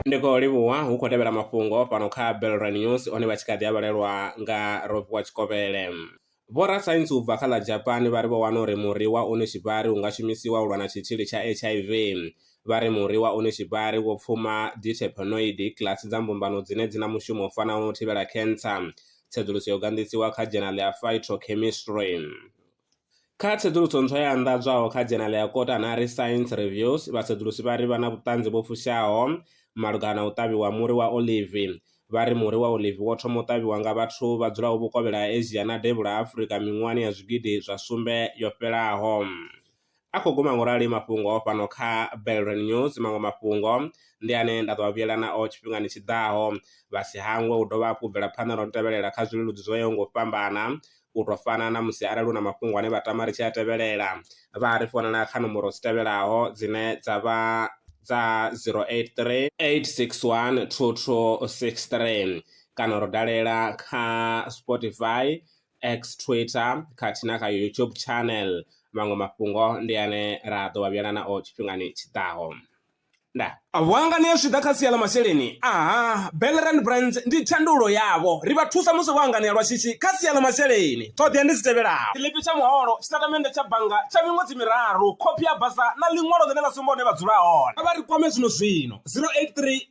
ndi khou livhuwa hu khou tevhela mafhungo fhano kha belran news one vha tshi kha ḓi a vhalelwa nga roviwa tshikovhele vhorasaintsi u bva kha ḽa japani vha ri vho wana uri muri wa unishibari u nga shumisiwa u lwa na tshitzhili tsha hiv vha ri muri wa unishibari wo pfuma diterpenoid kilasi dza mbumbano dzine dzi na mushumo u fanaho u thivhela khentsa tsedzuluso yo ganḓisiwa kha dzhenali ya phytochemistry Kha tsedzuluso ntswa yo anḓadzwaho kha dzhenala ya kota na ri Science Reviews, vhasedzulusi vha ri vha na vhuṱanzi vho fushaho malugana na u ṱavhiwa ha muri wa olivi. Vha ri muri wa olivi wo thoma u ṱavhiwa nga vhathu vha dzulaho vhukovhela ha Asia na devhula ha Afrika miṅwahani ya zwigidi zwa sumbe yo fhelaho. a khou guma ngorali mafhungo fhano kha Belren News maṅwe mafhungo ndi ane nda ḓo vhuyela nao tshifhingani tshi ḓaho vha si hangwe u dovha hafhu bvela phanḓa na u tevhelela kha zwileludzi zwo yaho ngo fhambana u tou fana na musi arali hu na mafhungo ane vha tama ri tshi a tevhelela vha ri founela kha nomboro dzi tevhelaho dzine dza vha dza 083 861 2263 kana ro dalela kha Spotify X, Twitter khathihi na kha YouTube channel. Maṅwe mafhungo ndi ane ra ḓo vha vhuyana nao tshifhingani tshi ḓaho. Nda. Vhuangani zwi ḓa kha sia ḽa masheleni. Aha, Bellerand Brands ndi thandululo yavho. Ri vha thusa musi vho anganea lwa shishi kha sia ḽa masheleni. Ṱhoḓea ndi dzi tevhelaho. Tshiḽipi tsha muholo, tshitatamennde tsha bannga tsha miṅwedzi miraru, khophi ya basa na ḽiṅwalo ḽine ḽa sumba hune vha dzula hone. Kha vha ri kwame zwino-zwino, 083